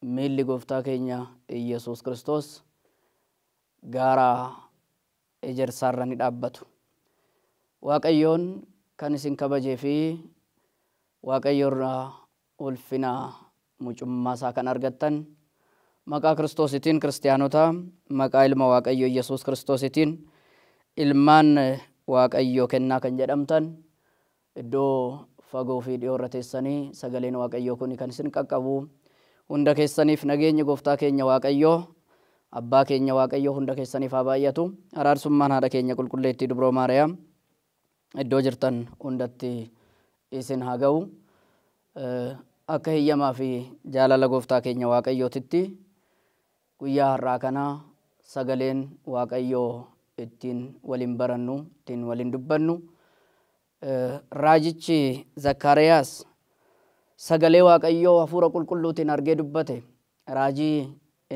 Miilli Gooftaa keenya Iyyasuus Kiristoos gaara Ejersaa irra ni dhaabbatu. Waaqayyoon kan isin kabajee fi Waaqayyo irraa ulfina mucummaa isaa kan argattan maqaa Kiristoositiin Kiristiyaanota, maqaa Ilma Waaqayyoo Iyyasuus Kiristoositiin ilmaan Waaqayyoo kennaa kan jedhamtan, Iddoo fagoo fi dhihoo irra teessanii sagaleen Waaqayyoo kuni kan isin qaqqabu hunda keessaniif nageenyi Gooftaa keenya Waaqayyoo, Abbaa keenya Waaqayyoo hunda keessaniif haa baay'atu. Araarsummaan Haadha keenya Qulqulleettii Dubroo Maariyaam iddoo jirtan hundatti isin haa ga'u. Akka heyyamaa fi jaalala Gooftaa keenya Waaqayyootitti Guyyaa har'aa kana sagaleen Waaqayyoo ittiin wal hin barannu, ittiin wal hin dubbannu. Raajichi Zakkaariyaas sagalee Waaqayyoo hafuura qulqulluutiin argee dubbate. Raajii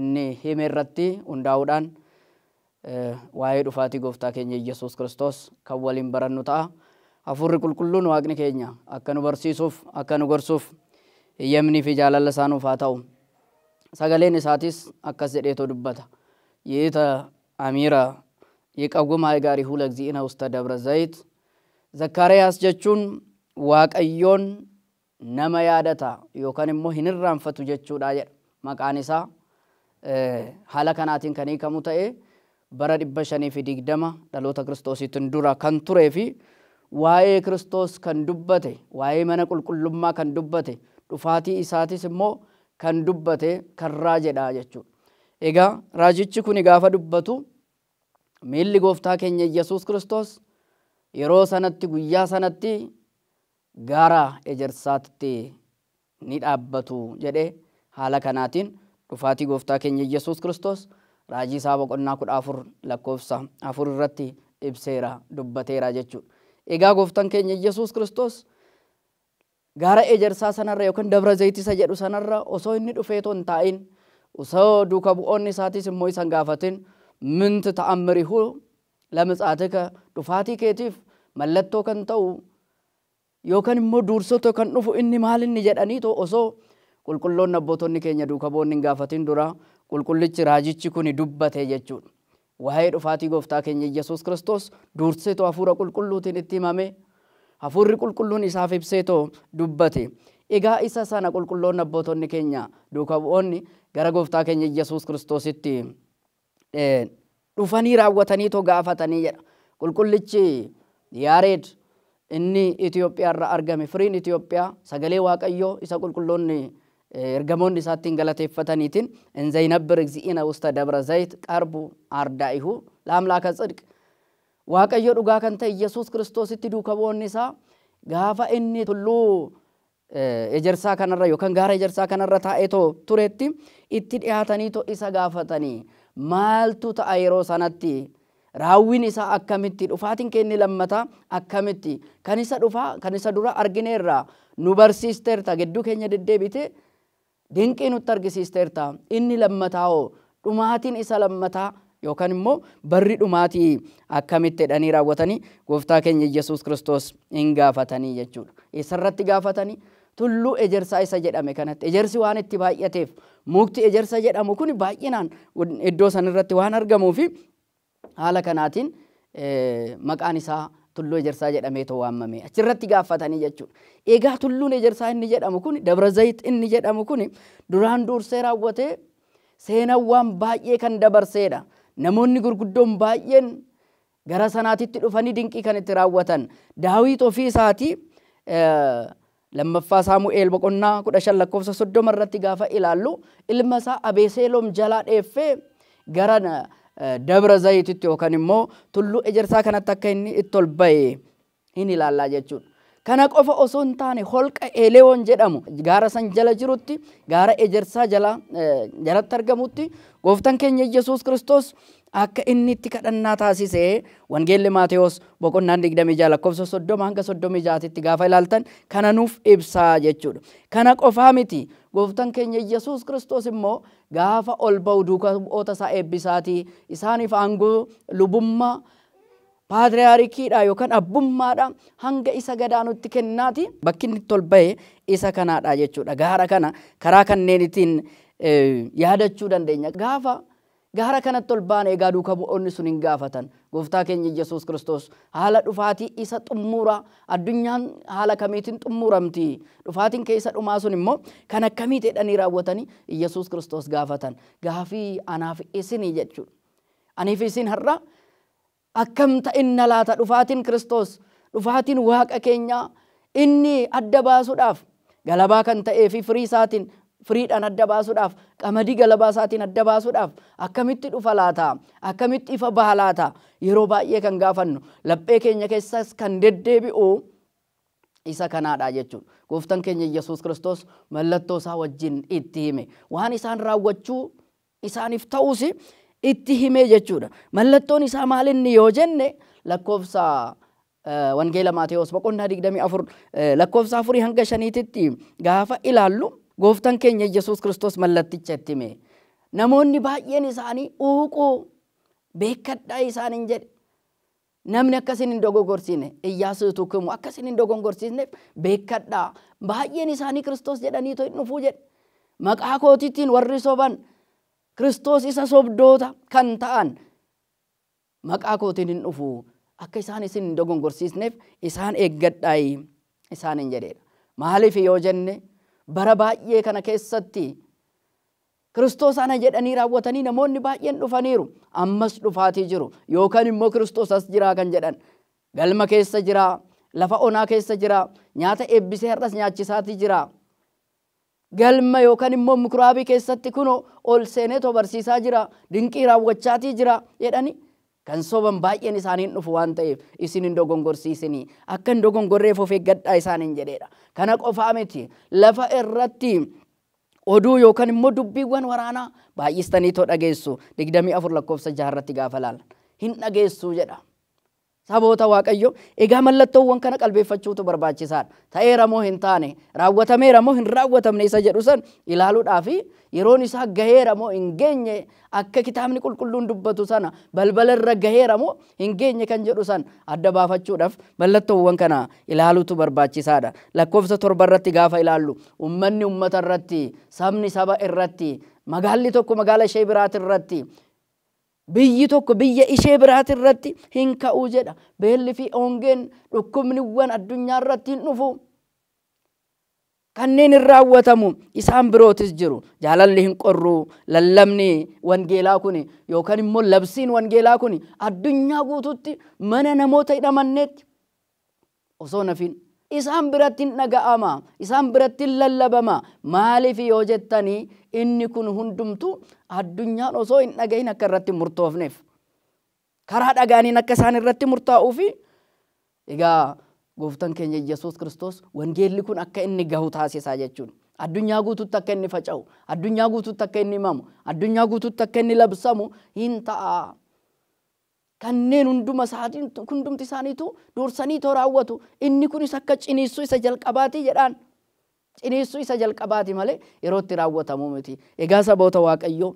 inni hime irratti hundaa'uudhaan waa'ee dhufaatii Gooftaa keenya Iyyasuus Kiristoos kan waliin barannu ta'a. Hafuurri Qulqulluun Waaqni keenya akka nu barsiisuuf, akka nu gorsuuf heyyamnii fi jaalalli isaa nuuf haa ta'u. Sagaleen isaatiis akkas jedheetoo dubbata. Yi'ita Amiira Yiqawwim Haayigaarihu Lagzi'ina Usta Dabra Zayit Zakkaariyaas jechuun Waaqayyoon nama yaadata yookan immoo hin irraanfatu jechuudha jedha. Maqaan isaa haala kanaatiin kan hiikamu ta'ee bara 520 dhaloota Kiristoosiitin dura kan turee fi waa'ee Kiristoos kan dubbate, waa'ee mana qulqullummaa kan dubbate, dhufaatii isaatis immoo kan dubbate kan raajedha jechuudha. Egaa raajichi kuni gaafa dubbatu miilli gooftaa keenya Iyyasuus Kiristoos yeroo sanatti guyyaa sanatti gaara ejersaatti ni dhaabbatu jedhe. Haala kanaatiin dhufaatii Gooftaa keenya Iyyesuus Kiristoos Raajii isaa boqonnaa 14 lakkoofsa 4 irratti ibseera, dubbateera jechuudha. Egaa Gooftan keenya Iyyesuus Kiristoos gaara ejersaa sanarra yookiin Dabra Zayit isa jedhu sanarra osoo inni dhufeetoo hin taa'in, osoo duuka bu'oonni isaatiis immoo isa hin gaafatin, Mint ta'ammirihu Lamitsaatika, dhufaatii keetiif mallattoo kan ta'u yookan immoo duursoto kan dhufu inni maal inni jedhaniito osoo qulqulloonni abbootonni keenya duuka bu'oonni hin gaafatin dura qulqullichi raajichi kuni dubbate jechuudha. Waa'ee dhufaatii gooftaa keenya Iyyasuus Kiristoos duurseeto hafuura qulqulluutiin itti himame. Hafuurri qulqulluun isaaf ibseeto dubbate. Egaa isa sana qulqulloonni abbootonni keenya duuka bu'oonni gara gooftaa keenya Iyyasuus Kiristoositti dhufanii raawwataniitoo gaafatanii jedha Qulqullichi Yaareed inni Itoophiyaarra argame. Firiin Itoophiyaa sagalee Waaqayyoo isa qulqulloonni ergamoonni isaa ittiin galateeffataniitiin in Zaynabbir Egzi'ina Usta Dabra Zayit Qarbu Aardaa'ihu Laamlaaka Tsidq Waaqayyo dhugaa kan ta'e Yesuus Kiristoositti duuka bu'oonni isaa gaafa inni tulluu ejersaa kana irra yookaan gaara ejersaa kana irra taa'eetoo turetti itti dhihaataniitoo isa gaafatanii maaltu ta'a yeroo sanatti? Raawwiin isaa akkamitti? Dhufaatiin kee inni lammataa akkamitti? Kan isa dhufaa, kan isa duraa argineerra, nu barsiisteerta, gidduu keenya deddeebitee dinqii nutti argisiisteerta. Inni lammataa hoo? Dhumaatiin isa lammataa yookaan immoo barri dhumaatii akkamitti jedhanii raawwatanii gooftaa keenya Iyyasuus Kiristoos in gaafatanii jechuu dha. Eessa irratti gaafatanii? Tulluu ejersaa isa jedhame kanatti. Ejersi waan itti baay'ateef mukti ejersa jedhamu kun baay'inaan iddoo san irratti waan argamuufi Haala kanaatiin maqaan isaa Tulluu Ejersaa jedhameetoo waammame. Achirratti gaaffatanii jechuudha. Egaa Tulluun Ejersaa inni jedhamu kuni, Dabra Zayit inni jedhamu kuni duraan duursee raawwatee seenawwaan baay'ee kan dabarseedha. Namoonni gurguddoon baay'een gara sanaatitti dhufanii dinqii kan itti raawwatan. Daawiit ofii isaatii 2ffaa Saamu'eel boqonnaa 15 lakkoofsa 30 irratti gaafa ilaallu ilma isaa Abeeseeloom jalaa dheeffee gara Dabra Zayititti yookaan immoo tulluu ejersaa kanatti akka inni itti ol ba'e hin ilaallaa jechuudha. Kana qofa osoo hin taane holqa Eleewoon jedhamu gaara san jala jirutti gaara ejersaa jala jalatti argamutti gooftan keenya Yesuus Kiristoos Akka inni itti kadhannaa taasise Wangeelli Maatewos boqonnaan 26 lakkoofsa 30 hanga 36 titti gaafa ilaaltan kana nuuf ibsaa jechuudha. Kana qofaa miti gooftan keenya Yesuus Kiristoos immoo gaafa ol ba'u duuka bu'oota isaa eebbisaatii isaaniif aangoo lubummaa paatriyaarikiidha yookaan abbummaadha hanga isa gadaanutti kennaati. Bakki inni itti ol ba'e isa kanaadha jechuudha. Gaara kana karaa kanneenitiin yaadachuu dandeenya. Gaafa Gaara kanatti ol baana egaa duuka bu'oonni sun in gaafatan, Gooftaa keenya Yesuus Kiristoos, haala dhufaatii isa xummuuraa, addunyaan haala kamiitiin xummuuramti? Dhufaatiin kee isa dhumaa sun immoo kan akkamiiti? jedhanii raawwatanii Yesuus Kiristoos gaafatan. Gaafii anaa fi isinii jechuudha. Anii fi isin har'a Akkam ta'inna laata dhufaatiin Kiristoos, dhufaatiin Waaqa keenyaa inni adda baasuudhaaf galabaa kan ta'ee fi firii isaatiin, firiidhaan adda baasuudhaaf, qamadii galabaa isaatiin adda baasuudhaaf akkamitti dhufa laata? Akkamitti ifa baha laata? Yeroo baay'ee kan gaafannu, laphee keenya keessas kan deddeebi'u isa kanaa dha jechuun Gooftan keenya Iyyasuus Kiristoos mallattoo isaa wajjin itti hime. Waan isaan raawwachuu isaaniif ta'uus itti himee jechuudha. Mallattoon isaa maal inni yoo jenne lakkoofsa Wangeela Maatewos boqonnaa 24 lakkoofsa afurii hanga shaniititti gaafa ilaallu gooftan keenya Yesuus Kiristoos mallatticha itti hime. Namoonni baay'een isaanii uuquu beekkadhaa isaaniin jedhe. Namni akka isin hin dogogorsiine, Iyyaasuu utuu kmu akka isin hin dogongorsiisneef beekkadhaa. Baay'een isaanii Kiristoos jedhaniitoo in dhufu jedhe. Maqaa kootiitiin warri soban, Kiristoos isa sobdoota kan ta'an, maqaa kootiin in dhufu. Akka isaan isin hin dogongorsiisneef isaan eeggadhaayi isaaniin jedheedha. Maaliif yoo jenne, bara baay'ee kana keessatti Kiristoos ana jedhanii raawwatanii namoonni baay'een dhufaniiru, ammas dhufaatii jiru, yookaan immoo Kiristoos as jiraa kan jedhan. Galma keessa jira, lafa onaa keessa jira, nyaata eebbisee har'as nyaachisaatii jira. Galma yookaan immoo mikuraabii keessatti kunoo ol seeneetoo barsiisaa jira, dinqii raawwachaatii jira jedhanii kan soban baay'een isaanii hin dhufu waan ta'eef isin hin dogongorsiisinii, akka hin dogongorreef of eeggadhaa isaaniin jedheera. Kana qofaa miti, lafa irratti Oduu yookan immoo dubbiiwwan waraanaa baay'istaniitoo dhageessu, 24 lakkoofsa 6 irratti gaafa ilaalan. Hin dhageessu jedha. Saboota Waaqayyoo, egaa mallattoowwan kana qalbeeffachuutu barbaachisaa dha. Ta'eera moo hin taane, raawwatameera moo hin raawwatamne isa jedhu san ilaaluudhaa fi yeroon isaa gaheera moo hin geenye Akka Kitaabni Qulqulluun dubbatu sana balbala irra gaheera moo hin geenye kan jedhu san adda baafachuudhaaf mallattoowwan kana ilaaluutu barbaachisaa dha. Lakkoofsa 7 irratti gaafa ilaallu ummanni ummata irratti, sabni saba irratti, magaalli tokko magaala ishee biraati irratti, biyyi tokko biyya ishee biraati irratti hin ka'u jedha. Beelli fi hongeen, dhukkubniwwan addunyaa irratti hin dhufu. Kanneen hin raawwatamu, isaan birootis jiru. Jaalalli hin qorru. Lallabni wangeelaa kuni yookan immoo labsiin wangeelaa kuni addunyaa guutuutti mana namoota hin amanneetti osoo hin hafiin isaan biratti hin dhaga'ama, isaan biratti hin lallabama. Maaliif yoo jettani inni kun hundumtuu addunyaan osoo hin dhagahin akka irratti hin murtoofneef. Karaa dhaga'aniin akka isaan irratti murtaa'uu fi egaa gooftan keenya Iyyasuus Kiristoos wangeelli kun akka inni gahu taasisaa jechuun addunyaa guutuutti akka inni faca'u, addunyaa guutuutti akka inni himamu, addunyaa guutuutti akka inni labsamu hin ta'a. Kanneen hunduma isaatiin hundumti isaaniitu dursaniitoo raawwatu. Inni kunis akka ciniinsuu isa jalqabaati jedhaan. ciniinsuu isa jalqabaa ti malee yeroo itti raawwatamu miti. Egaa saboota Waaqayyoo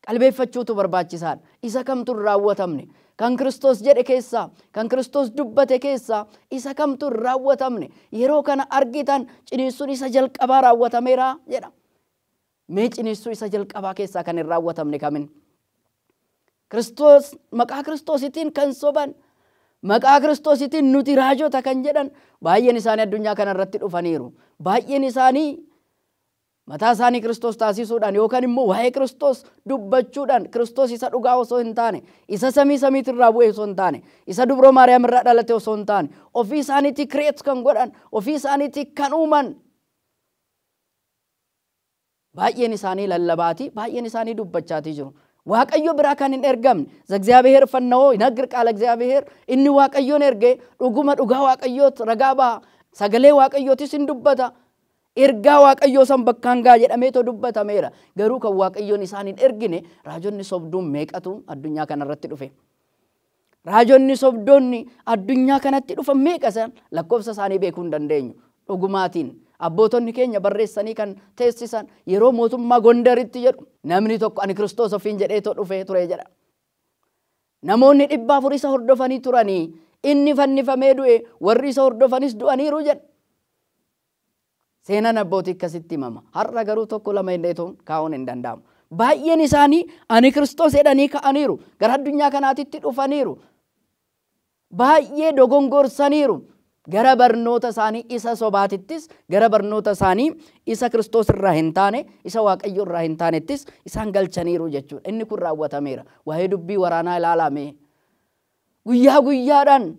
qalbeeffachuutu barbaachisaa dha. Isa kamtu hin raawwatamne? Kan Kiristoos jedhe keessaa, kan Kiristoos dubbate keessaa isa kamtu hin raawwatamne? Yeroo kana argitan ciniinsuun isa jalqabaa raawwatameera jedha. Mee ciniinsuu isa jalqabaa keessaa kan hin raawwatamne kamin? Kiristoos, maqaa Kiristoositiin kan soban, maqaa Kiristoositiin nuti raajota kan jedhan baay'een isaanii addunyaa kana irratti dhufaniiru. Baay'een isaanii mataa isaanii Kiristoos taasisuudhaan yookaan immoo waa'ee Kiristoos dubbachuudhaan Kiristoos isa dhugaa osoo hin taane, isa samii samiitti irraa bu'e osoo hin taane, isa dubroo Maariyaam irraa dhalate osoo hin taane, ofii isaaniitii kireet kan godhan, ofii isaaniitii kan uuman Baay'een isaanii lallabaatii, baay'een isaanii dubbachaatii jiru. Waaqayyo biraa kan hin ergamne, Zagziyaabiheer fanna'oo hinagir qaala Zagziyaabiheer, inni Waaqayyoon erge dhuguma dhugaa Waaqayyoot ragaa baha, sagalee Waaqayyootis hin dubbata, ergaa Waaqayyoo san bakkaan gaha jedhameetoo dubbatameera. Garuu kan Waaqayyoon isaan hin ergine raajonni sobduun meeqatu addunyaa kanarratti dhufe. Raajonni sobdoonni addunyaa kanatti dhufan meeqa isaan? Lakkoofsa isaanii beekuu hin dandeenyu. Dhugumaatiin, abbootonni keenya barreessanii kan teessisan yeroo mootummaa Gondaritti jedhu. Namni tokko ani Kiristoos ofiin jedheetoo dhufee ture jedha. Namoonni dhibba afur isa hordofanii turanii inni fannifamee du'e, warri isa hordofanis du'aniiru jedha. Seenaan abbootii akkasitti himama. Har'a garuu tokko lama jenneetuun kaa'uun hin danda'amu. Baay'een isaanii ani Kiristoos jedhanii ka'aniiru. Gara addunyaa kanaatitti dhufaniiru. Baay'ee dogongorsaniiru. Gara barnoota isaanii isa sobaatittis, gara barnoota isaanii isa Kiristoos irraa hin taane, isa Waaqayyo irraa hin taanettis isaan galchaniiru jechuudha. Inni kun raawwatameera. Waa'ee dubbii waraanaa ilaalaa mee. Guyyaa guyyaadhaan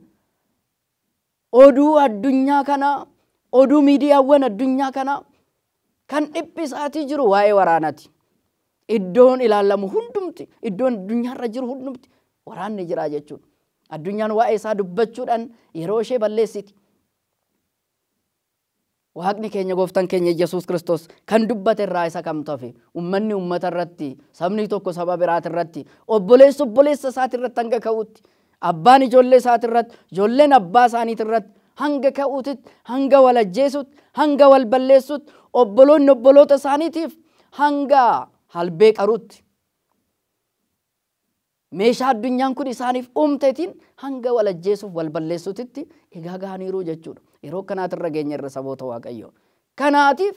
Oduu addunyaa kanaa, oduu miidiyaawwan addunyaa kanaa kan dhiphisaatii jiru waa'ee waraanati. Iddoon ilaalamu hundumti, iddoon addunyaarra jiru hundumti waraanni jiraa jechuudha. Addunyaan waa'ee isaa dubbachuudhaan yeroo ishee balleessiti. Waaqni keenya gooftan keenya Iyyasuus Kiristoos kan dubbate irraa isa kamtu hafe? Ummanni ummata irratti, sabni tokko saba biraati irratti, obboleessi obboleessa isaati irratti hanga ka'utti, abbaan ijoollee isaati irratti, ijoolleen abbaa isaaniiti irratti hanga ka'uutitti, hanga wal ajjeesutti, hanga wal balleessutti, obboloonni obboloota isaaniitiif hanga halbee qaruutti. meeshaa addunyaan kun isaaniif uumtetiin hanga wal ajjeesuuf wal balleessutitti egaa gahaniiruu jechuudha. Yeroo akkanaati irra geenye irra saboota Waaqayyoo. Kanaatiif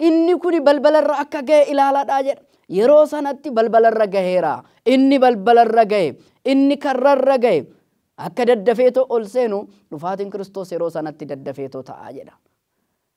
inni kuni balbala irra akka gahe ilaaladhaa jedha. Yeroo sanatti balbala irra gaheera. Inni balbala irra gahe, inni karra irra gahe akka daddafeetoo ol seenu dhufaatiin Kiristoos yeroo sanatti daddafeetoo ta'a jedha.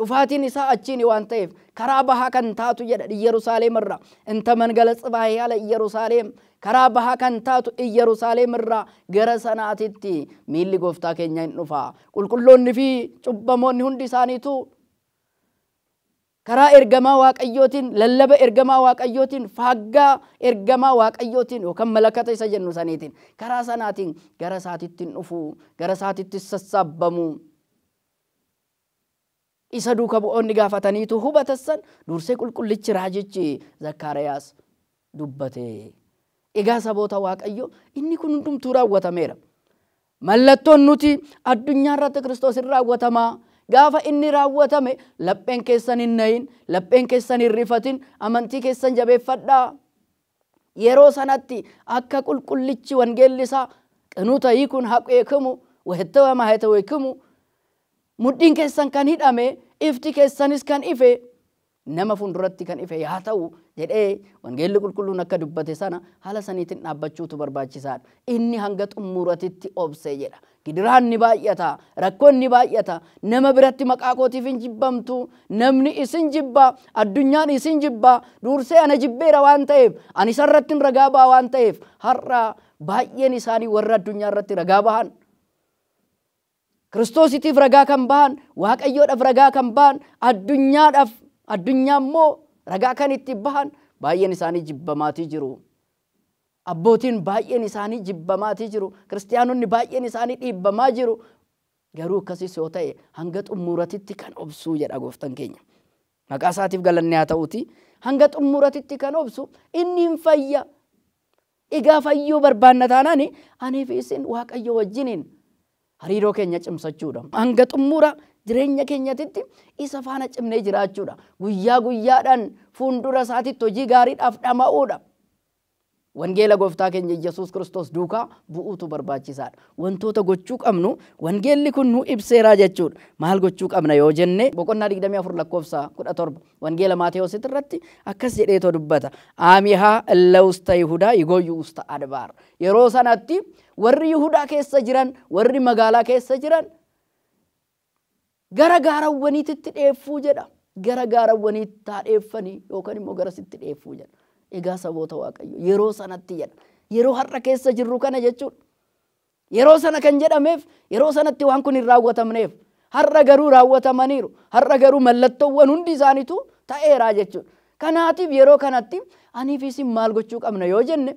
Dhufaatiin isaa achiini waan ta'eef, karaa bahaa kan taatu jedha Iyyarusaaleem irraa, inta mangala Tsibaahi ala Iyyarusaaleem, karaa bahaa kan taatu Iyyarusaaleem irraa gara sanaatitti miilli Gooftaa keenyaa in dhufa. Qulqulloonni fi cubbamoonni hundi isaaniituu karaa ergamaa Waaqayyootiin, lallaba ergamaa Waaqayyootiin, faaggaa ergamaa Waaqayyootiin yookaan malakata isa jennu saniitiin, karaa sanaatiin gara isaatitti in dhufu, gara isaatittis sassaabbamu. isa duuka bu'oonni gaafataniitu hubata san dursee qulqullichi raajichi Zakkaariyaas dubbate. Egaa saboota Waaqayyoo inni kun hundumtuu raawwatameera. Mallattoon nuti addunyaa irratti Kiristoos hin raawwatamaa gaafa inni raawwatame lapheen keessan hin nayin, lapheen keessan hin rifatin, amantii keessan jabeeffadhaa. Yeroo sanatti akka qulqullichi wangeelli isaa qinuuta hiikuun haqeekamu wahettawa maahetaweekamu mudhiin keessan kan hidhame ifti keessanis kan ife nama fuulduratti kan ife yaa ta'u jedhee wangeelli qulqulluun akka dubbate sana haala saniitiin dhaabbachuutu barbaachisaadha. Inni hanga xummuuratitti obse jedha. Gidiraan ni baay'ata, rakkoon ni baay'ata, nama biratti maqaa kootiif in jibbamtu, namni isin jibba, addunyaan isin jibba, duursee ana jibbeera waan ta'eef, ani isa irrattin ragaa ba'a waan ta'eef, har'a baay'een isaanii warra addunyaa irratti ragaa bahan, Kiristoositiif ragaa kan bahan, Waaqayyoodhaaf ragaa kan bahan, addunyaadhaaf, addunyaa immoo ragaa kan itti bahan baay'een isaanii jibbamaatii jiru. Abbootiin baay'een isaanii jibbamaatii jiru. Kiristiyaanonni baay'een isaanii dhiibbamaa jiru. Garuu akkasis yoo ta'e hanga xummuuratitti kan obsuu jedha gooftan keenya. Maqaa isaatiif galanni haa ta'uutii hanga xummuuratitti kan obsu inni hin fayya. Egaa fayyuu barbaanna taanaan anii fi isin waaqayyo wajjiniin Hariiroo keenya cimsachuudha. Hanga xummuura jireenya keenyatitti isa faana cimnee jiraachuudha. Guyyaa guyyaadhaan fuundura isaatitti hojii gaariidhaaf dhama'uudha. Wangeela gooftaa keenya Iyyasuus Kiristoos duukaa bu'uutu barbaachisaadha. Wantoota gochuu qabnu wangeelli kun nuu ibseeraa jechuudha. Maal gochuu qabna yoo jenne boqonnaa 24 lakkoofsa 17 wangeela Maatewosit irratti akkas jedheetoo dubbata. Aamihaa illa usta Yihudaa yigoyyu usta Adbaar. Yeroo sanatti Warri Yihudaa keessa jiran, warri magaalaa keessa jiran gara gaarawwaniititti dheeffuu jedha. Gara gaarawwaniitti haa dheeffanii yookaan immoo garasitti dheeffuu jedha. Egaa saboota Waaqayyo yeroo sanatti jedha. Yeroo har'a keessa jirru kana jechuudha. Yeroo sana kan jedhameef yeroo sanatti waan kun hin raawwatamneef har'a garuu raawwatamaniiru. Har'a garuu mallattoowwan hundi isaaniitu ta'eeraa jechuudha. Kanaatiif yeroo kanatti aniif isin maal gochuu qabna yoo jenne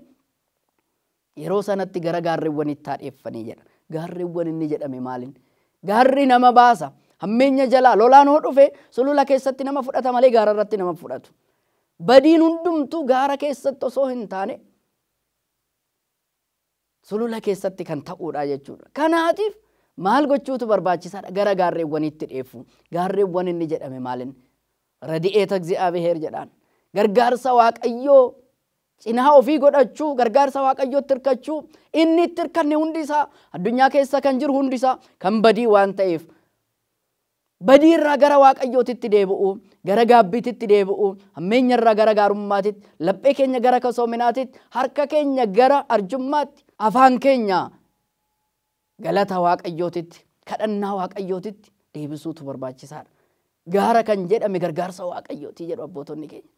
Yeroo sanatti gara gaarrewwaniitti haa dheeffanii jedha. Gaarrewwan inni jedhame maalin? Gaarri nama baasa. Hammeenya jalaa lolaan hoo dhufe sulula keessatti nama fudhata malee gaara irratti nama hin fudhatu. Badiin hundumtuu gaara keessatti osoo hin taane sulula keessatti kan ta'uudha jechuudha. Kanaatiif maal gochuutu barbaachisaadha? Gara gaarrewwaniitti dheeffuu. Gaarrewwan inni jedhame maalin? Radi'eeta Egzi'aabiheer jedhaan. Gargaarsa Waaqayyoo Cinaa ofii godhachuu, gargaarsa Waaqayyootti hirkachuu, inni itti hirkanne hundi isaa, addunyaa keessa kan jiru hundi isaa kan badii waan ta'eef, badii irraa gara Waaqayyootitti deebi'uu, gara gaabbiititti deebi'uu, hammeenya irraa gara gaarummaatitti, laphee keenya gara kasoominaatitti, harka keenya gara arjummaatti, afaan keenya Galata Waaqayyootitti, kadhannaa Waaqayyootitti deebisuutu barbaachisaadha. Gaara kan jedhame gargaarsa Waaqayyooti jedhu abbootonni keenya.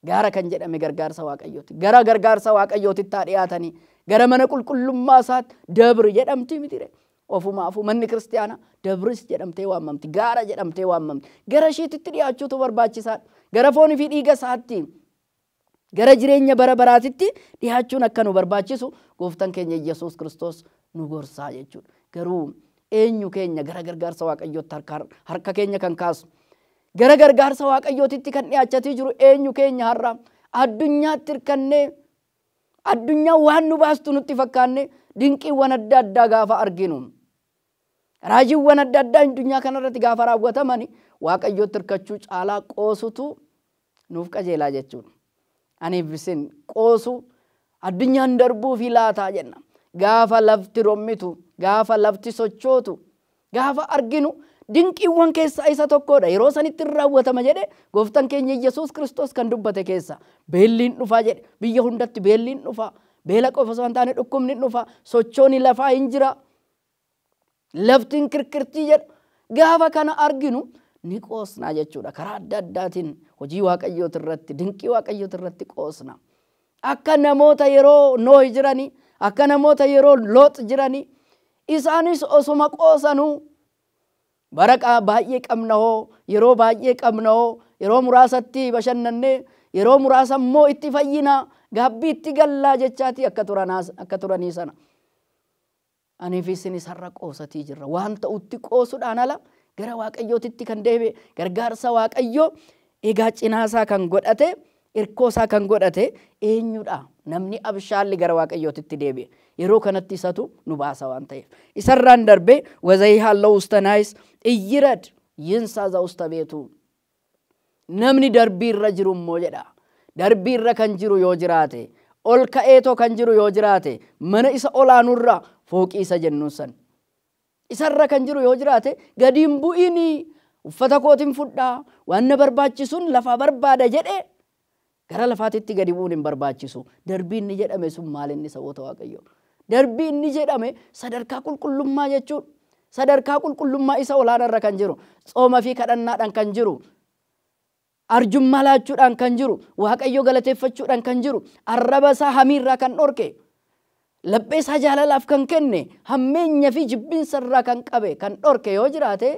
Gaara kan jedhame gargaarsa Waaqayyooti. Gara gargaarsa Waaqayyootitti haa dhiyaatanii. Gara mana qulqullummaa isaatti dabri jedhamti mitire. Ofumaafuu manni kiristaanaa dabris jedhamtee waamamti. Gaara jedhamtee waamamti. Gara ishiititti dhiyaachuutu barbaachisaadha. Gara foonii fi dhiiga isaatti gara jireenya bara baraatitti dhihaachuun akka nu barbaachisu Gooftan keenya Iyyasuus Kiristoos nu gorsaa jechuudha. Garuu eenyu keenya gara gargaarsa Waaqayyootti harka harka keenya kan kaasu? Gara gargaarsa Waaqayyootitti kan dhihaachatii jiru eenyu keenya har'a? Addunyaatti hirkannee addunyaa waan nu baastu nutti fakkaanne dinqiiwwan adda addaa gaafa arginu Raajiiwwan adda addaa addunyaa kana irratti gaafa raawwataman Waaqayyootti hirkachuu caalaa qoosutu nuuf qajeelaa jechuudha. Aniif isin qoosu addunyaan darbuufi laataa jenna. Gaafa lafti rommitu, gaafa lafti sochootu, gaafa arginu dinqiiwwan keessaa isa tokkoodha. Yeroo sanitti in raawwatama jedhe gooftan keenya Iyyasuus Kiristoos kan dubbate keessaa. Beelli in dhufaa jedhe. Biyya hundatti beelli in dhufaa. Beela qofa osoo hin taane dhukkubni in dhufaa. Sochooni lafaa in jira. Laftiin kirkirtii jedha. Gaafa kana arginu ni qoosnaa jechuudha. Karaa adda addaatiin hojii waaqayyooti irratti, dinqii waaqayyooti irratti qoosna. Akka namoota yeroo Noohi jiranii, akka namoota yeroo Loox jiranii, isaanis osuma qoosanuu bara qa- baay'ee qabna hoo, yeroo baay'ee qabna hoo, yeroo muraasatti bashannannee, yeroo muraasa immoo itti fayyinaa, gaabbii itti gallaa jechaatii akka turanaa- akka turanii sana. Anii fi isin isarra qoosatii jirra. Waan ta'utti qoosudhaan ala gara Waaqayyootitti kan deebi'e, gargaarsa Waaqayyoo egaa cinaa isaa kan godhate, irkoo isaa kan godhate eenyu dha? Namni abshaalli gara Waaqayyootitti deebi'e. Yeroo kanatti isatu nu baasa waan ta'eef. Isarraan darbee wazayihaalloo usta naayis iyyirad yinsaa za usta beetuu. Namni darbii irra jiru immoo jedha, darbii irra kan jiru yoo jiraate, ol ka'eetoo kan jiru yoo jiraate, mana isa ol aanu irra, fooqii isa jennuun san. Isa irra kan jiru yoo jiraate, gadi hin bu'ini, uffata kootin fudhaa, waan na barbaachisun lafaa barbaada jedhee, Gara lafaatitti gadi bu'uun hin barbaachisu. Darbii inni jedhame sun maal inni saboota Waaqayyoo? Darbii inni jedhame sadarkaa qulqullummaa jechuun sadarkaa qulqullummaa isa olaana irra kan jiru, tsooma fi kadhannaadhaan kan jiru, arjummaa laachuudhaan kan jiru, Waaqayyo galateeffachuudhaan kan jiru, arraba isaa hamii irraa kan dhorke, laphee isaa jaalalaaf kan kenne, hammeenya fi jibbinsa irraa kan qabe, kan dhorke yoo jiraate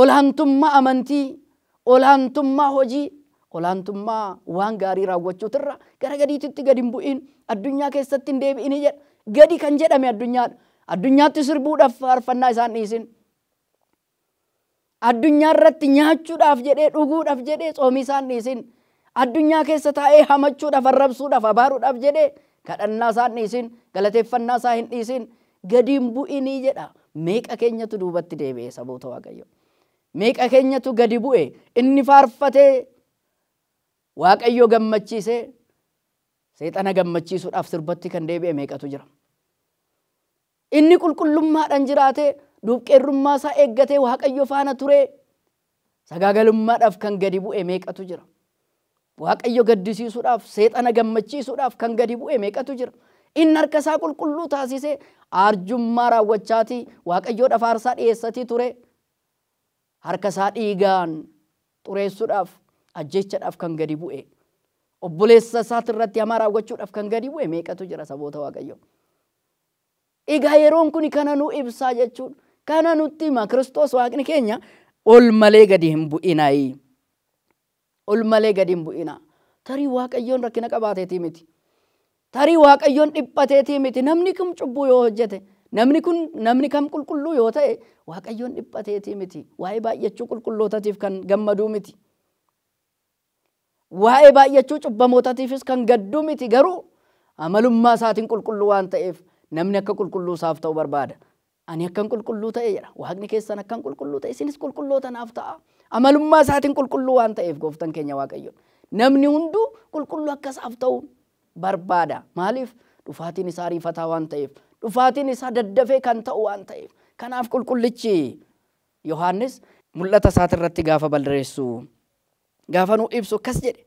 Ol'aantummaa amantii, ol'aantummaa hojii, ol'aantummaa waan gaarii raawwachuutirra gara gadiititti gad hin bu'iin, addunyaa keessatti hin deebi'ini jedha. Gadi kan jedhame addunyaadha. Addunyaatti sirbuudhaaf faarfannaa isaa hin dhiisin. Addunyaarratti nyaachuudhaaf jedhee, dhuguudhaaf jedhee tsoomii isaa hin dhiisin. Addunyaa keessa taa'ee hamachuudhaaf, arrabsuudhaaf, abaaruudhaaf jedhee kadhannaa isaa hin dhiisin, galateeffannaa isaa hin dhiisin, gadi hin bu'inii jedha. Meeqa keenyatu duubatti deebi'e saboota Waaqayyoo? Meeqa keenyatu gadi bu'e? Inni faarfatee Waaqayyoo gammachiisee seexana gammachiisuudhaaf sirbatti kan deebi'e meeqatu jira? Inni qulqullummaadhaan jiraatee, duubqeerrummaa isaa eeggatee Waaqayyo faana turee, sagaagalummaadhaaf kan gadi bu'e meeqatu jira? Waaqayyo gaddisiisuudhaaf, seexana gammachiisuudhaaf kan gadi bu'e meeqatu jira? Inni harka isaa qulqulluu taasisee, aarjummaa raawwachaatii Waaqayyoodhaaf aarsaa dhiyeessatii turee, Harka isaa dhiigaan xureessuudhaaf, ajjeechaadhaaf kan gadi bu'e, obboleessa isaati irratti hamaa raawwachuudhaaf kan gadi bu'e meeqatu jira saboota Waaqayyoo. Egaa yeroon kuni kana nu ibsaa jechuun kana nutti hima Kiristoos Waaqni keenya ol malee gadi hin bu'inaayi. Ol malee gad hin bu'inaa. Tarii Waaqayyoon rakkina qabaateetii miti. Tarii Waaqayyoon dhiphateetii miti. Namni kam cubbuu yoo hojjete, namni kun namni kam qulqulluu yoo ta'e Waaqayyoon dhiphateetii miti. Waa'ee baay'achuu qulqullootatiif kan gammaduu miti. Waa'ee baay'achuu cubbamootatiifis kan gadduu miti garuu amalummaa isaatiin qulqulluu waan ta'eef namni akka qulqulluu isaaf ta'u barbaada. Ani akkan qulqulluu ta'eera, Waaqni keessan akkan qulqulluu ta'e isinis qulqulloota naaf ta'aa. Amalummaa isaatiin qulqulluu waan ta'eef gooftan keenya Waaqayyoon namni hunduu qulqulluu akka isaaf ta'u barbaada. Maaliif? Dhufaatiin isaa ariifataa waan ta'eef, dhufaatiin isaa daddafee kan ta'u waan ta'eef. Kanaaf qulqullichi Yohaannis mul'ata isaatirratti gaafa barreessu, gaafa nuu ibsu akkas jedhe,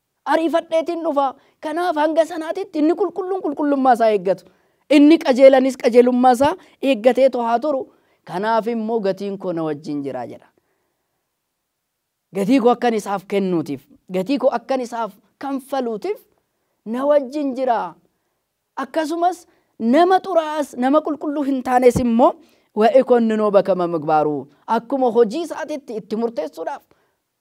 Ariifadheetin dhufa. Kanaaf hanga sanaatitti inni qulqulluun qulqullummaa isaa eeggatu. Inni qajeelanis qajeelummaa isaa eeggateetu haa turu. Kanaaf immoo gatiin koo na wajjin jira jedha. Gatii koo akkan isaaf kennuutiif, gatii koo akkan isaaf kanfaluutiif na wajjin jira. Akkasumas nama xuraa'aas nama qulqulluu hin taanes immoo wa ikonninoo bakama migbaaruu akkuma hojii isaatitti itti murteessuudhaaf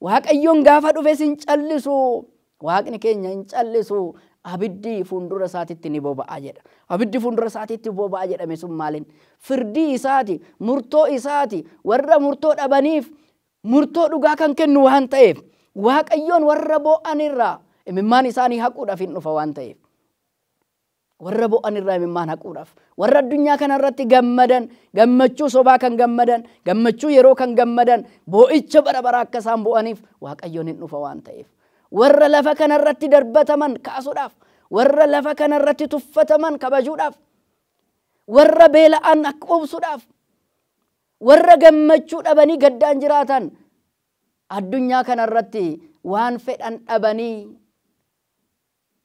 Waaqayyoon gaafa dhufes hin callisu. Waaqni keenya hin callisu. Abiddi fuundura isaatitti ni boba'a jedha. Abiddi fuundura isaatitti boba'a jedhame sun maalin? Firdii isaati, murtoo isaati, warra murtoo dhabaniif murtoo dhugaa kan kennu waan ta'eef, Waaqayyoon warra boo'an irraa imimmaan isaanii haquudhaaf hin dhufa waan ta'eef. Warra bo'an irraa imimmaan haquudhaaf. Warra addunyaa kana irratti gammadan, gammachuu sobaa kan gammadan, gammachuu yeroo kan gammadan, boo'icha bara baraa akka isaan bo'aniif Waaqayyoon hin dhufa waan ta'eef. Warra lafa kana irratti darbataman kaasuudhaaf. Warra lafa kana irratti tuffataman kabajuudhaaf. Warra beela'an akka quubsuudhaaf. Warra gammachuu dhabanii gaddaan jiraatan addunyaa kana irratti waan fedhan dhabanii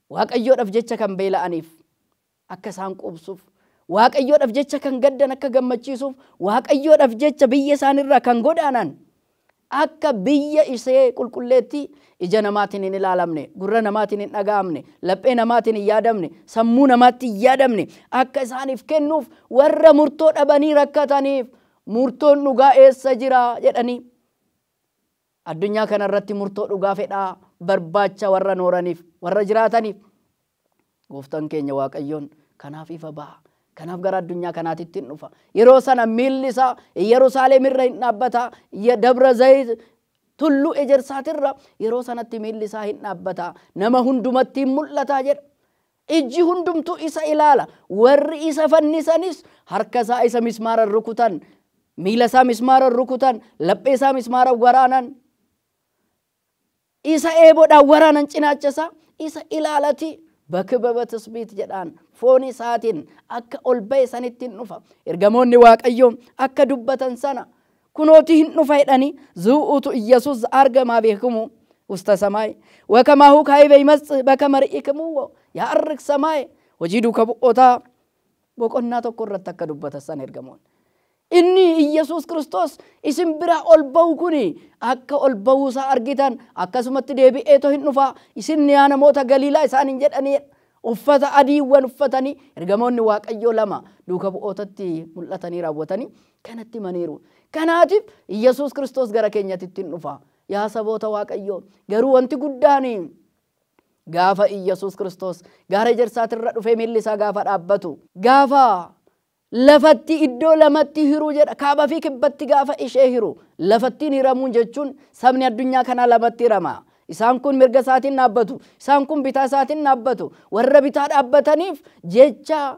Waaqayyoodhaf jecha kan beela'aniif akka isaan quubsuuf, Waaqayyoodhaf jecha kan gaddan akka gammachiisuuf, Waaqayyoodhaf jecha biyya isaani irraa kan godaanan akka biyya ishee qulqulleettii ija namaatiin hin ilaalamne, gurra namaatiin hin dhaga'amne, laphee namaatiin hin yaadamne, sammuu namaatti hin yaadamne akka isaaniif kennuuf warra murtoo dhabanii rakkataniif murtoon dhugaa eessa jira? jedhanii. Addunyaa kana irratti murtoo dhugaa fedhaa barbaacha warra nooraniif, warra jiraataniif, Gooftan keenya Waaqayyoon kanaaf ifa baha, kanaaf gara addunyaa kanaatitti in dhufa. Yeroo sana miilli isaa Iyyarusaaleem irra in dhaabbata, ya Dabra Zayit, Tulluu Ejersaat irra, yeroo sanatti miilli isaa in dhaabbata, nama hundumatti in mul'ata jedha. Ijji hundumtuu isa ilaala, warri isa fannisanis harka isaa isa mismaaran rukutan, miila isaa mismaaran rukutan, laphee isaa mismaaran waraanan, isa eeboodhaan waraanan cinaacha isaa isa ilaalati bakibaba tisbiit jedhaan foon isaatiin akka ol ba'e sanittiin dhufa. Ergamoonni Waaqayyoo akka dubbatan sana Kunooti hin dhufa jedhani zu'uutu Iyyasuus arga maa beekumuu usta samaaye wa kamaahu kaa'iba imasx baka mari'ikumuu wa ya arg samaaye hojii duuka bu'ootaa boqonnaa tokko irratti akka dubbatassan ergamoonni. Inni Iyyasuus Kiristoos isin biraa ol ba'u kuni akka ol ba'uu isaa argitan akkasumatti deebi'eeto hin dhufa isin yaa namoota Galiilaa isaaniin jedhani uffata adiiwwan uffatanii ergamoonni Waaqayyoo lama duuka bu'ootatti mul'atanii raawwatanii kanatti himaniiru. Kanaatiif Yesuus Kiristoos gara keenyatitti in dhufa. Yaa saboota Waaqayyoo, garuu wanti guddaan gaafa Yesuus Kiristoos gaara ejersaatirra dhufee miilli isaa gaafa dhaabbatu, gaafa lafatti iddoo lamatti hiruu jedha, kaaba fi kibbatti gaafa ishee hiru, lafattiin hiramuun jechuun sabni addunyaa kanaa lamatti hirama. Isaan kun mirga isaatiin dhaabbatu, isaan kun bitaa isaatiin dhaabbatu. Warra bitaa dhaabbataniif jecha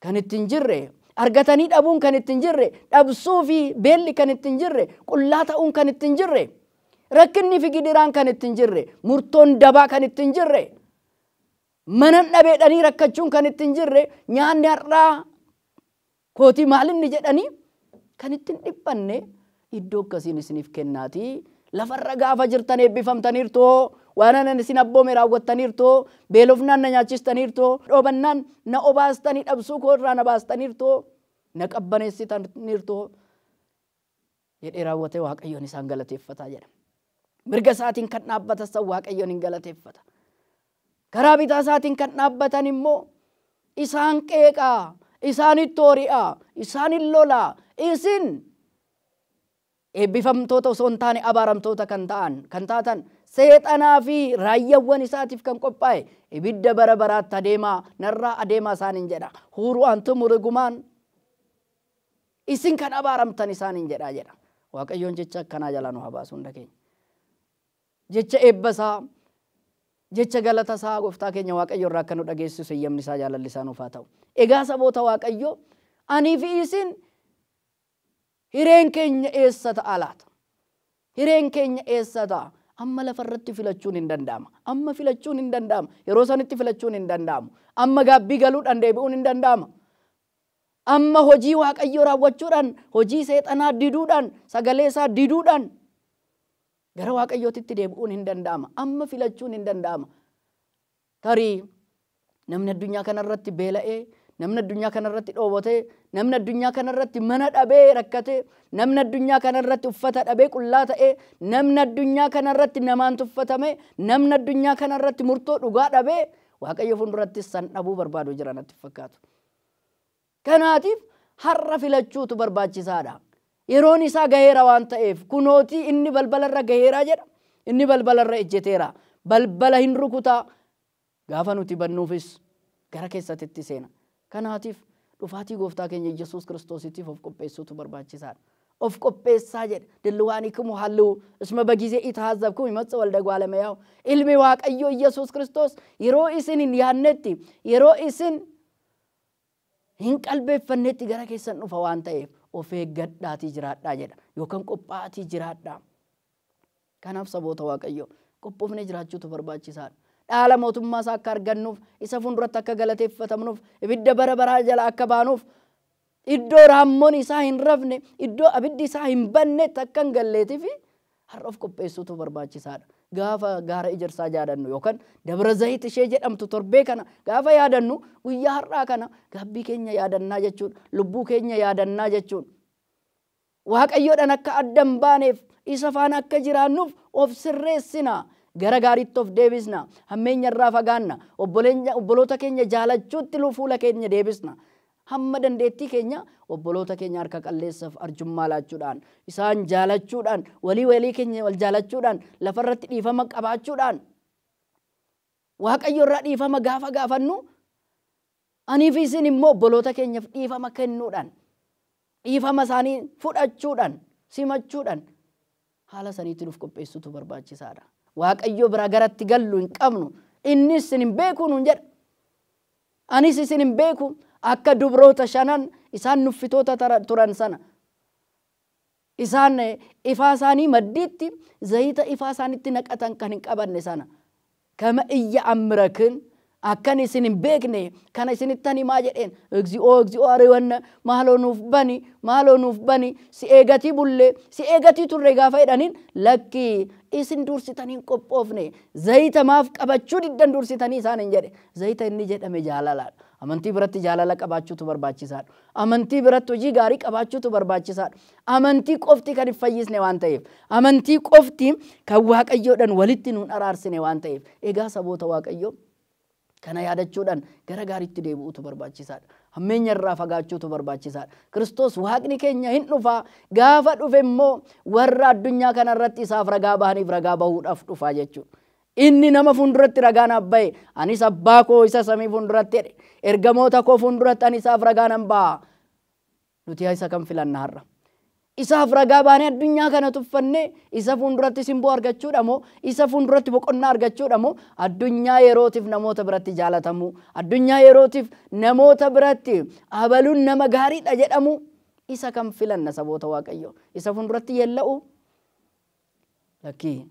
kan itti hin jirre, argatanii dhabuun kan itti hin jirre, dhabsuu fi beelli kan itti hin jirre, qullaa ta'uun kan itti hin jirre, rakkinni fi gidiraan kan itti hin jirre, murtoon dabaa kan itti hin jirre, manan dhabeedhanii rakkachuun kan itti hin jirre, nyaanni har'aa kootii maalinni jedhanii kan itti hin dhiphanne, Iddoo akkasiin isiniif kennaatii, lafa irra gaafa jirtan eebbifamtaniirtu, waan anan isin abboome raawwattaniirtu, beelofnaan na nyaachistaniirtu, dhoobannaan na obaastanii dhabsuu koo irraa na baastaniirtu, na qabbaneessitaniirtu jedhee raawwatee Waaqayyoon isaan galateeffata jedha. Mirga isaatiin kan dhaabbatan san Waaqayyoon in galateeffata. Karaa bitaa isaatiin kan dhaabbatan immoo isaan qeeqa, isaanitti oori'a, isaanin lola, isin eebbifamtoota osoo hin taane abaaramtoota kan ta'an kan taatan seexanaa fi raayyawwan isaatiif kan qophaa'e ibidda bara baraatti adeemaa narraa adeemaa isaanin jedha huuru antumu rigumaan isin kan abaaramtan isaanin jedha jedha waaqayyoon jecha akkanaa jalaa nu habaasu hunda keenya. Jecha eebba isaa, jecha galata isaa Gooftaa keenya Waaqayyo irraa akka nu dhageessisu heyyamni isaa, jaalalli isaa nuuf haa ta'u. Egaa saboota Waaqayyoo, anii fi isin hireen keenya eessa ta'a laata? Hireen keenya eessa ta'a? Amma lafa irratti filachuun hin danda'ama. Amma filachuun hin danda'ama. Yeroo sanitti filachuun hin danda'amu. Amma gaabbii galuudhaan deebi'uun hin danda'ama. Amma hojii Waaqayyoo raawwachuudhaan, hojii seexanaa diduudhaan, sagalee isaa diduudhaan, Gara Waaqayyootitti deebi'uun hin danda'ama. Amma filachuun hin danda'ama. Tarii namni addunyaa kanarratti beela'ee, namni addunyaa kanarratti dhoowwatee, namni addunyaa kanarratti mana dhabee rakkatee, namni addunyaa kanarratti uffata dhabee qullaa ta'ee, namni addunyaa kanarratti namaan tuffatamee, namni addunyaa kanarratti murtoo dhugaa dhabee Waaqayyo fuuldurattis san dhabuu barbaadu jira natti hin fakkaatu. Kanaatiif har'a filachuutu barbaachisaa dha. Yeroon isaa gaheera waan ta'eef, kunootii inni balbala irra gaheera jedha, inni balbala irra ejjeteera, balbala hin rukuta, gaafa nuti bannuufis gara keessatitti seena. Kanaatiif dhufaatii Gooftaa keenya Iyyesuus Kiristoositiif of qopheessuutu barbaachisaa dha. Of qopheessaa jedha, Dillwaanikimu halliwu, isma bagizee itahazzabkum imatsa walda gwaalamayahu. Ilmi Waaqayyoo Iyyesuus Kiristoos yeroo isin hin yaadnetti, yeroo isin hin qalbeeffanneetti gara keessan dhufa waan ta'eef of eeggadhaatii jiraadhaa jedha yookaan qophaa'atii jiraadhaa. Kanaaf saboota Waaqayyoo qophoofnee jiraachuutu barbaachisaadha. Dhaala mootummaa isaa akka argannuuf, isa fuulduratti akka galateeffatamnuuf, ibidda bara baraa jala akka baanuuf, iddoo raammoon isaa hin rafne, iddoo abiddi isaa hin bannetti akka hin galleetifi Har'a of qopheessuutu barbaachisaadha. Gaafa gaara ejersaa jaadannu yookan Dabra Zahit ishee jedhamtu torbee kana gaafa yaadannu guyyaa har'aa kana gaabbii keenya yaadannaa jechuun lubbuu keenya yaadannaa jechuun Waaqayyodhan akka adda hin baaneef isa faana akka jiraannuuf of sirreessina. Gara gaariitti of deebisna. Hammeenya irraa fagaanna. Obboloota keenya jaalachuutti fuula keenya deebisna. Hamma dandeettii keenyaa obboloota keenya harka qalleessaf arjummaa laachuudhaan, isaan jaalachuudhaan, walii walii keenya wal jaalachuudhaan, lafa irratti dhiifama qabaachuudhaan, Waaqayyo irraa dhiifama gaafa gaafannu, anii fi isin immoo obboloota keenyaf dhiifama kennuudhaan, dhiifama isaanii fudhachuudhaan, simachuudhaan, Haala saniitiin uf qopheessuutu barbaachisaadha. Waaqayyo biraa garatti gallu hin qabnu. Innis isin hin beeku nuun jedha. Anis isin hin beeku akka dubroota shanan isaan nuffitoota turan sana. Isaan ifaa isaanii maddiitti zayita ifaa isaanitti naqatan kan hin qabanne sana. Kama iyya Amirakin akkan isin hin beekne kana isinittan himaa jedheen. Egzi'oo egzi'oo Ariwanna maaloo nuuf bani maaloo nuuf bani si eegatii bulle si eegatii turre gaafa jedhaniin lakki isin dursitanii hin qophoofne zayita maaf qabachuu diddan dursitanii isaaniin jedhe. Zayita inni jedhame jaalalaadha. Amantii biratti jaalala qabaachuutu barbaachisaadha. Amantii biratti hojii gaarii qabaachuutu barbaachisaadha. Amantii qofti kan hin fayyisne waan ta'eef, amantii qofti kan Waaqayyoodhaan walitti nuun araarsine waan ta'eef, egaa saboota Waaqayyoo kana yaadachuudhaan gara gaariitti deebi'uutu barbaachisaadha. Hammeenya irraa fagaachuutu barbaachisaadha. Kiristoos Waaqni keenya hin dhufaa, gaafa dhufe immoo warra addunyaa kana irratti isaaf ragaa bahaniif ragaa bahuudhaaf dhufaa jechuudha. Inni nama fuulduratti ragaa naaf ba'e, anis Abbaa koo isa samii fuulduratti jedhe. Ergamoota koo fuulduratti ani isaaf ragaa nan ba'a. Nuti isa kam filanna har'a? Isaaf ragaa baanee addunyaa kana tuffannee isa fuulduratti simboo argachuudha moo isa fuulduratti boqonnaa argachuudha moo addunyaa yerootiif namoota biratti jaalatamuu, addunyaa yerootiif namoota biratti abaluun nama gaariidha jedhamuu? Isa kam filanna saboota Waaqayyoo? Isa fuulduratti yeella'uu? Lakkii.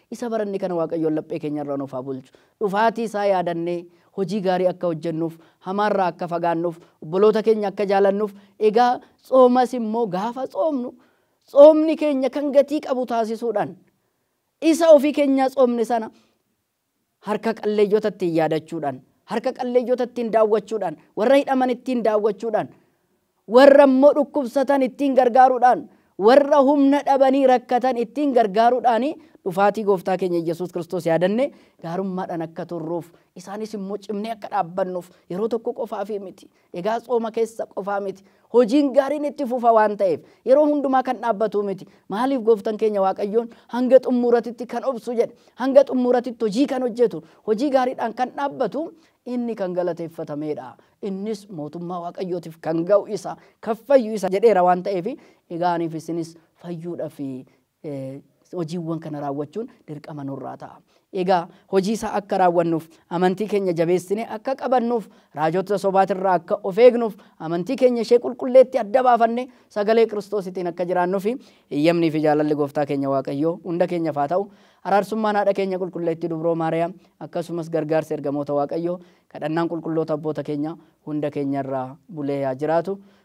Isa baranne kana Waaqayyoon laphee keenya irra nuuf haa bulchu. Dhufaatii isaa yaadannee hojii gaarii akka hojjennuuf, hamaa irraa akka fagaannuuf, obboloota keenya akka jaalannuuf, egaa tsoomas immoo gaafa tsoomnu tsoomni keenya kan gatii qabu taasisuudhaan isa ofii keenyaa tsoomne sana Harka qalleeyyota ittiin yaadachuudhaan, harka qalleeyyota ittiin daawwachuudhaan, warra hidhaman ittiin daawwachuudhaan, warra immoo dhukkubsatan ittiin gargaaruudhaan, warra humna dhabanii rakkatan ittiin gargaaruudhaan dhufaatii gooftaa keenya Iyyasuus Kiristoos yaadannee gaarummaadhaan akka turruuf, isaanis immoo cimnee akka dhaabbannuuf yeroo tokko qofaafii miti. Egaa tsooma keessa qofaa miti. Hojiin gaariin itti fufa waan ta'eef, yeroo hundumaa kan dhaabbatuu miti. Maaliif Gooftan keenya Waaqayyoon hanga xummuuratitti kan obsu jedhe. Hanga xummuuratitti hojii kan hojjetu, hojii gaariidhaan kan dhaabbatu inni kan galateeffatameedha. Innis mootummaa Waaqayyootiif kan ga'u isa, kan fayyu isa jedheera waan ta'eef, egaa aniif isinis fayyuudhafi hojiiwwan kana raawwachuun dirqama nurraa ta'a. Egaa hojii isaa akka raawwannuuf, amantii keenya jabeessinee akka qabannuuf, raajota sobaatirraa akka of eegnuuf, amantii keenya ishee qulqulleetti adda baafannee sagalee Kiristoositiin akka jiraannufi eeyyamnii fi jaalalli Gooftaa keenya Waaqayyoo hunda keenyaf haa ta'u. Araarsummaan Haadha keenya Qulqulleettii Dubroo Maariyaam akkasumas gargaarsi ergamoota Waaqayyoo, kadhannaan qulqulloota abboota keenyaa hunda keenyarra bulee haa jiraatu.